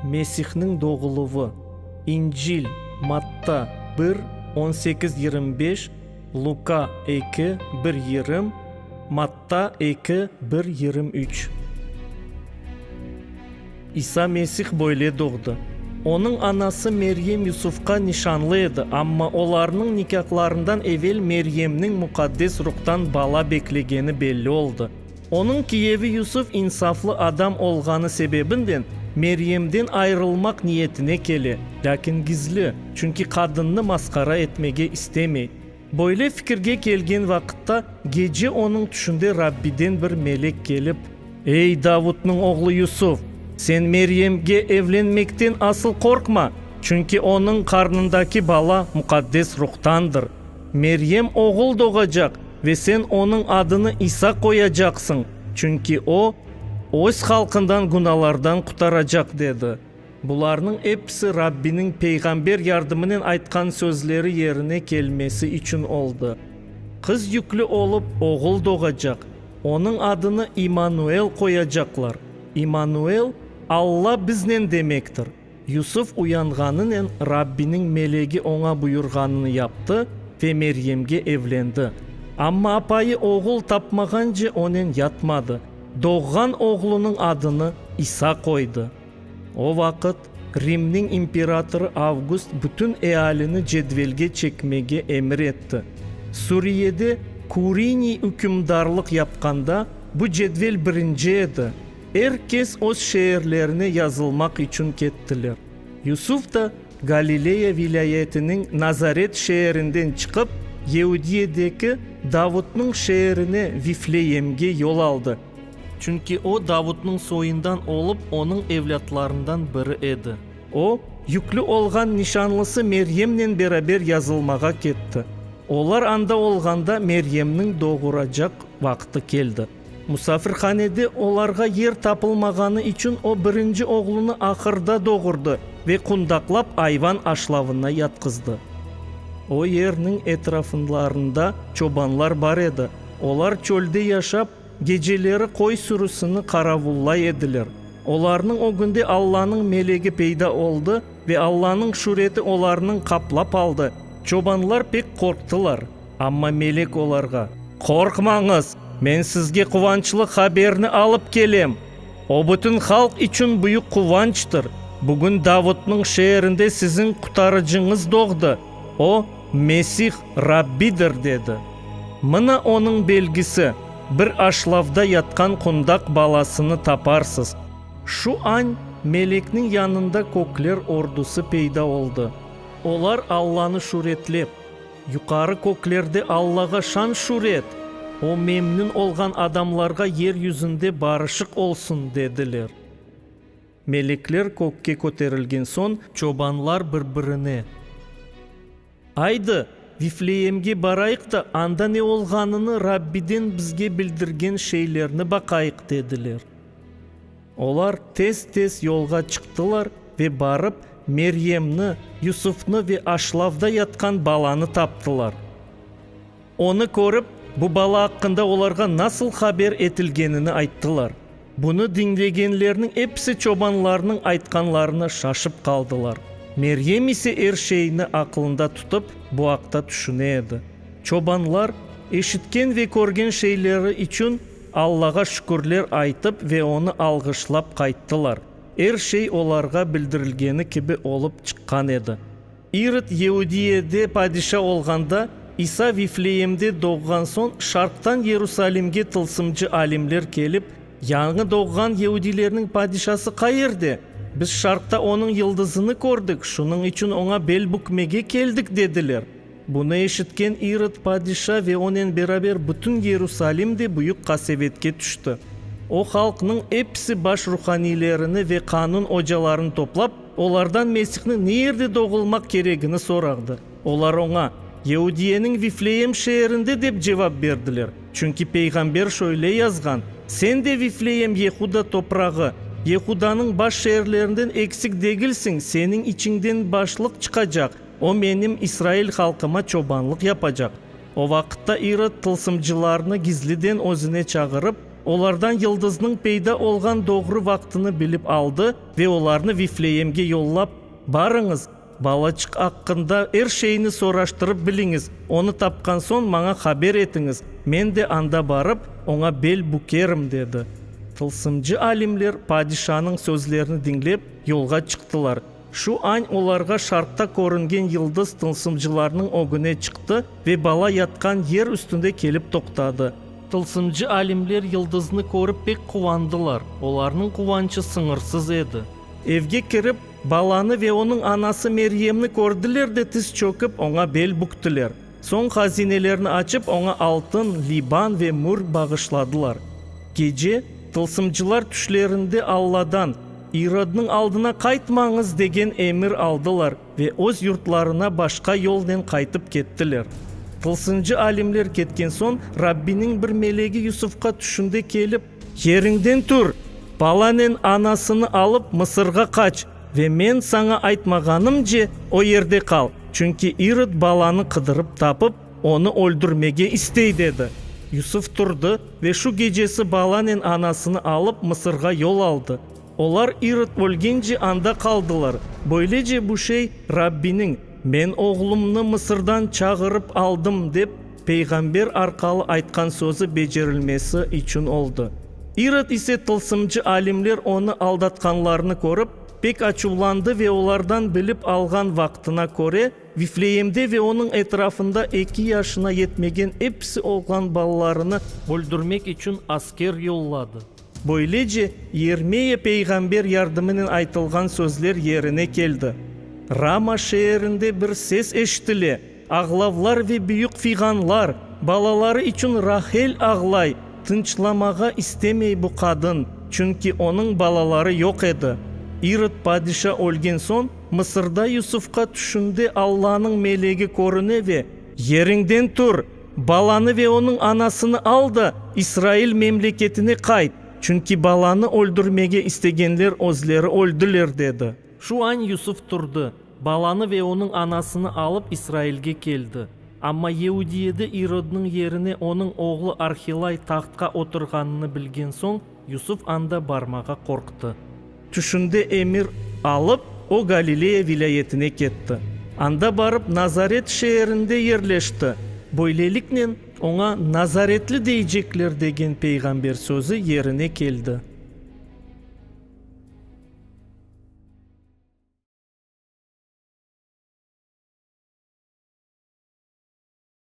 Mesihniñ doğuluvı, İncil, Matta, bir, on sekiz, yirmi beş, Luka, eki, bir yirım, Matta, eki, bir, yirım üç. İsa Mesih böyle doğdı. Onıñ anası Meryem Yusufqa nişanlı edi, amma olarnıñ nikâhlarından evel Meryemniñ Muqaddes Ruhtan bala beklegeni belli oldı. Onıñ kiyevi Yusuf insaflı adam olğanı sebebinden Meryemden ayırılmaq niyetine kele, lâkin gizli, çünki qadınnı masqara etmege istemey. Böyle fikirge kelgen vaqıtta gece onıñ tüşünde Rabbiden bir melek kelip. Ey, Davudnıñ oğlu Yusuf! Sen Meryemge evlenmekten asıl qorqma, çünki onıñ qarnındaki bala Muqaddes Ruhtandır. Meryem oğul doğacaq ve sen onıñ adını İsa qoyacaqsıñ, çünki o, öz halqından günalardan qutaracaq, dedi. Bularnıñ episi Rabbiniñ peyğamber yardımınen aytqan sözleri yerine kelmesi içün oldı. Qız yüklü olıp, oğul doğacaq, onıñ adını İmmanuel qoyacaqlar. İmmanuel, Alla biznen demektir. Yusuf uyanğanınen Rabbiniñ melegi oña buyurğanını yaptı ve Meryemge evlendi. Amma apayı oğul tapmağance onen yatmadı, doğğan oğlunıñ adını İsa qoydı. O vaqıt Rimniñ imperatorı Avgust bütün ealini cedvelge çekmege emir etti. Suriyede Kuriniy ükümdarlıq yapqanda bu cedvel birinci edi. Er kes öz şeerlerine yazılmaq içün kettiler. Yusuf da Galileya vilâyetiniñ Nazaret şeerinden çıqıp, Yeudiyedeki Davutnıñ şeerine Vifleyemge yol aldı. Çünki o, Davutnıñ soyundan olıp, onıñ evlâtlarından biri edi. O, yüklü olğan nişanlısı Meryemnen beraber yazılmağa ketti. Olar anda olğanda Meryemniñ doğuracaq vaqtı keldi. Musafirhanede olarğa yer tapılmağanı içün o birinci oğlunı ahırda doğurdı ve qundaqlap ayvan aşlavına yatqızdı. O yerniñ etrafınlarında çobanlar bar edi, olar çölde yaşap, geceleri qoy sürüsini qaravullay ediler. Olarnıñ ögünde Allanıñ melegi peyda oldı ve Allanıñ şüreti olarnıñ qaplap aldı, çobanlar pek qorqtılar. Amma melek olarğa, Qorqmañız, men sizge quvançlı haberni alıp kelem, o bütün halq içün büyük quvançtır, bugün Davutnıñ şeerinde siziñ Qutarıcıñız doğdı, o, Mesih, Rabbidir, dedi. Mına onıñ belgisi, bir aşlavda yatqan qundaq balasını taparsız. Şu añ melekniñ yanında kökler ordusı peyda oldı. Olar Allanı şüretlep. Yuqarı köklerde Allağa şan-şüret, o memnün olğan adamlarğa yer yüzünde barışıq olsun, dediler. Melekler kökke köterilgen soñ, çobanlar bir-birine, Aydı, Vifleemge barayıq da, anda ne olğanını, Rabbiden bizge bildirgen şeylerni baqayıq, dediler. Olar tez-tez yolğa çıqtılar ve barıp, Meryemni, Yusufnı ve aşlavda yatqan balanı taptılar. Onı körip, bu bala aqqında olarğa nasıl haber etilgenini ayttılar. Bunı diñlegenlerniñ episi çobanlarnıñ aytqanlarına şaşıp qaldılar. Meryem ise er şeyni aqılında tutıp, bu aqta tüşüne edi. Çobanlar, eşitken ve körgen şeyleri içün, Allağa şükürler aytıp ve onı alğışlap qayttılar. Er şey olarğa bildirilgeni kibi olıp çıqqan edi. İrod Yeudiyede padişa olğanda, İsa Vifleemde doğğan soñ, şarqtan Yerusalimge tılsımcı alimler kelip, Yañı doğğan yeudilerniñ padişası qayerde? Biz şarqta onıñ yıldızını kördik, şunıñ içün oña bel bükmege keldik, dediler. Bunı eşitken İrod padişa ve onen beraber bütün Yerusalim de büyük qasevetke tüşti. O halqnıñ episi baş ruhaniylerini ve qanun ocalarını toplap, olardan Mesihniñ ne yerde doğulmaq keregini sorağdı. Olar oña, Yahudiyeniñ Vifleem şeerinde dep cevap berdiler, çünki peyğamber şöyle yazğan, Sen de, Vifleem, Yehuda toprağı, Yehudanıñ baş şeerlerinden eksik degilsiñ, seniñ içiñden başlıq çıqacaq, O menim İsrail halqıma çobanlıq yapacaq. O vaqıtta İrod tılsımcılarnı gizliden özüne çağırıp, olardan yıldıznıñ peyda olğan doğru vaqtını bilip aldı ve olarnı Vifleemge yollap, Barıñız, balaçıq aqqında er şeyni soraştırıp biliñiz, onı tapqan soñ maña haber etiñiz, men de anda barıp, oña bel bükerim, dedi. Tılsımcı alimler padişanıñ sözlerini diñlep, yolğa çıqtılar. Şu añ olarğa şarqta körüngen yıldız tılsımcılarnıñ ögüne çıqtı ve bala yatqan yer üstünde kelip toqtadı. Tılsımcı alimler yıldıznı körip pek quvandılar, olarnıñ quvançı sıñırsız edi. Evge kirip, balanı ve onıñ anası Meryemni kördiler de tiz çökip, oña bel büktiler. Soñ hazinelerni açıp, oña altın, liban ve mür bağışladılar. Gece, tılsımcılar tüşlerinde Alladan, İrodnıñ aldına qaytmañız degen emir aldılar ve öz yurtlarına başqa yolnen qaytıp kettiler. Tılsıncı alimler ketken soñ, Rabbiniñ bir melegi Yusufqa tüşünde kelip, Yeriñden tur, balanen anasını alıp Mısırğa qaç ve men saña aytmağanımce o yerde qal, çünki İrod balanı qıdırıp tapıp, onı öldürmege istey, dedi. Yusuf turdı ve şu gecesi balanen anasını alıp Mısırğa yol aldı. Olar İrod ölgence anda qaldılar. Böylece bu şey Rabbiniñ, Men oğlumnı Mısırdan çağırıp aldım, dep peyğamber arqalı aytqan sözü becerilmesi içün oldı. İrod ise tılsımcı alimler onı aldatqanlarını körip, pek açuvlandı ve olardan bilip alğan vaqtına köre, Vifleemde ve onıñ etrafında eki yaşına yetmegen episi oğlan balalarını öldürmek içün asker yolladı. Böylece Yermeya peyğamber yardımınen aytılğan sözler yerine keldi. Rama şeerinde bir ses eşitile, Ağlavlar ve büyük fiğanlar, balaları içün Rahel ağlay, tınçlamağa istemey bu qadın, çünki onıñ balaları yoq edi. İrod padişa ölgen soñ, Mısırda Yusufqa tüşünde Allanıñ melegi körüne ve, Yeriñden tur! Balanı ve onıñ anasını al da, İsrail memleketine qayt, çünki balanı öldürmege istegenler özleri öldiler, dedi. Şu añ Yusuf turdı, balanı ve onıñ anasını alıp, İsrailge keldi. Amma Yeudiyede İrodnıñ yerine onıñ oğlu Arhilay tahtqa oturğanını bilgen soñ, Yusuf anda barmağa qorqtı. Tüşünde emir alıp, o Galileya vilâyetine ketti. Anda barıp Nazaret şeerinde yerleşti. Böyleliknen, oña Nazaretli deycekler degen peyğamber sözü yerine keldi.